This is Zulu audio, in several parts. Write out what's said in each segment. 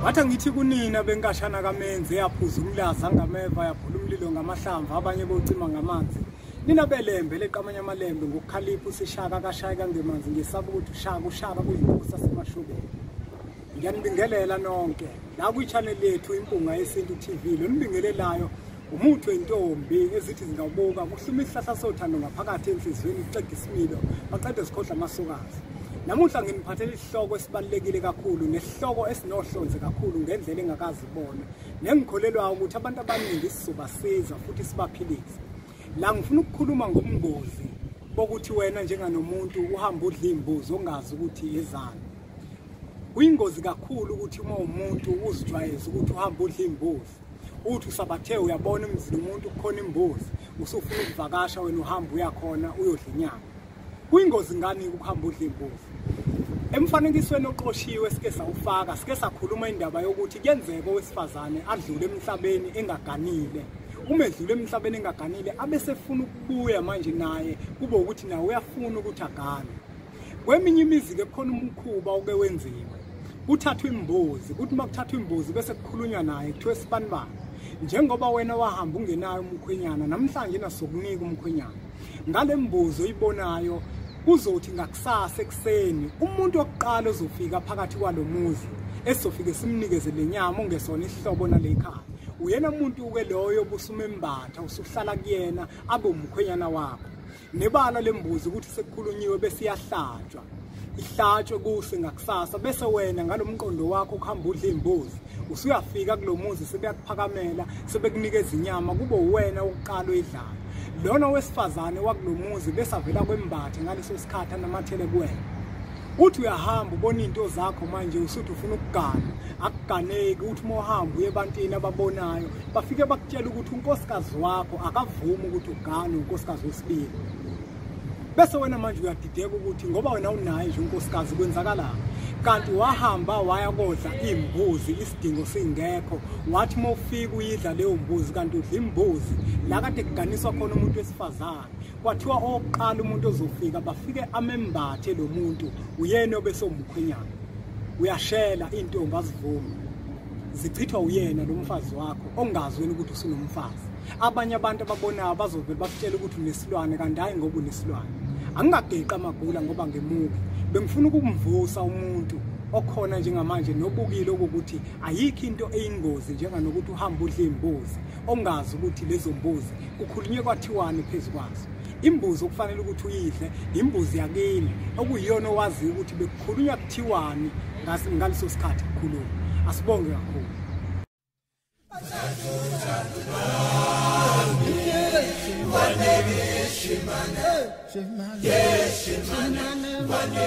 wathi angithi kunina benkashana kamenzi eyaphuza umlaza ngameva yabhula umlilo ngamahlamvu abanye bocima ngamanzi nina belembe leqamanye amalembe ngokukhalipha usishaka kashaye kangemanzi ngesaba ukuthi ushaka ushaka kuyinkosi asemashubeni ngiyanibingelela nonke la kwichanel yethu impunga yesintu tv lo nibingelelayo Umuthi wentombi ezithi zingabuka kuhluma isihlahla sothando ngaphakathi enhliziyweni kuxega isimilo baqede sikhohla amasokazi. Namuhla nginiphathela isihloko esibalekile kakhulu nesihloko esinohlonze kakhulu ngendlela engakazi bona nengikholelwa ukuthi abantu abaningi sizobasiza futhi sibaphilise. La ngifuna ukukhuluma ngobungozi bokuthi wena njenganomuntu uhamba udla imbuzi ongazi ukuthi ezani. Kuyingozi kakhulu ukuthi uma umuntu uzijwayeza ukuthi uhamba udla imbuzi uthi usabathe uyabona emzini umuntu kukhona imbuzi usufuna ukuvakasha wena uhamba uyakhona uyodla inyama kuyingozi ngani ukuhamba udla imbuzi emfanekisweni oqoshiwe sike sawufaka sike sakhuluma indaba yokuthi kuyenzeka owesifazane adlule emhlabeni engaganile uma edlule emhlabeni engaganile abesefuna ukubuya manje naye kube ukuthi nawe uyafuna ukuthi agane kweminye imizi ke khona umkhuba oke wenziwe kuthathwa imbuzi kuthi uma kuthathwa imbuzi bese kukhulunywa naye kuthiwa esibanibani njengoba wena wahamba ungenayo umkhwenyana namhlanje nasokunika umkhwenyana ngale mbuzo oyibonayo kuzothi ngakusasa ekuseni umuntu wokuqala ozofika phakathi kwalo muzi esizofike simnikeze le nyama ongesona isihlobo nale khaya uyena muntu-ke loyo busumembatha usuhlala kuyena abe umkhwenyana wakho nebala lembuzi ukuthi sekukhulunyiwe bese iyahlatshwa ihlatshwe kuhle ngakusasa bese wena ngalomqondo wakho ukuhamba udla imbuzi usuyafika kulomuzi sebeyakuphakamela sebekunikeza inyama kube uwena oqala uyidlala lona wesifazane wakulomuzi bese avela kwembathe ngaleso sikhathi anamathele kuwena uthi uyahamba ubona izinto zakho manje usuthi ufuna ukugana akuganeki uthi uma uhamba uye ebantwini ababonayo bafike bakutshela ukuthi unkosikazi wakho akavumi ukuthi ugane unkosikazi wesibili bese wena manje uyadideka ukuthi ngoba wena unaye nje unkosikazi kwenzakalani kanti wahamba waya kodla imbuzi isidingo singekho wathi uma ufika uyidla leyo mbuzi kanti udla imbuzi la kade kuganiswa khona umuntu wesifazane kwathiwa owokuqala umuntu ozofika bafike amembathe lo muntu uyena obesomkhwenyana uyashela intombi azivumi zichithwa uyena lo mfazi wakho ongazi wena ukuthi usunomfazi abanye abantu ababonayo bazovele bakutshela ukuthi unesilwane kanti hayi ngoba unesilwane angingageqi amagula ngoba ngemubi bengifuna ukumvusa umuntu okhona njengamanje nobukile ukuthi ayikho into eyingozi njenganokuthi uhambe udle imbuzi ongazi ukuthi lezo mbuzi kukhulunywe kwathiwani phezu kwazo imbuzi okufanele ukuthi uyidle imbuzi yakini okuyiyona owaziyo ukuthi bekukhulunywa kuthiwani ngaleso sikhathi kukhuluma asibonge kakhulu Shimane, Shimane, Shimane, Shimane,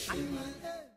Shimane,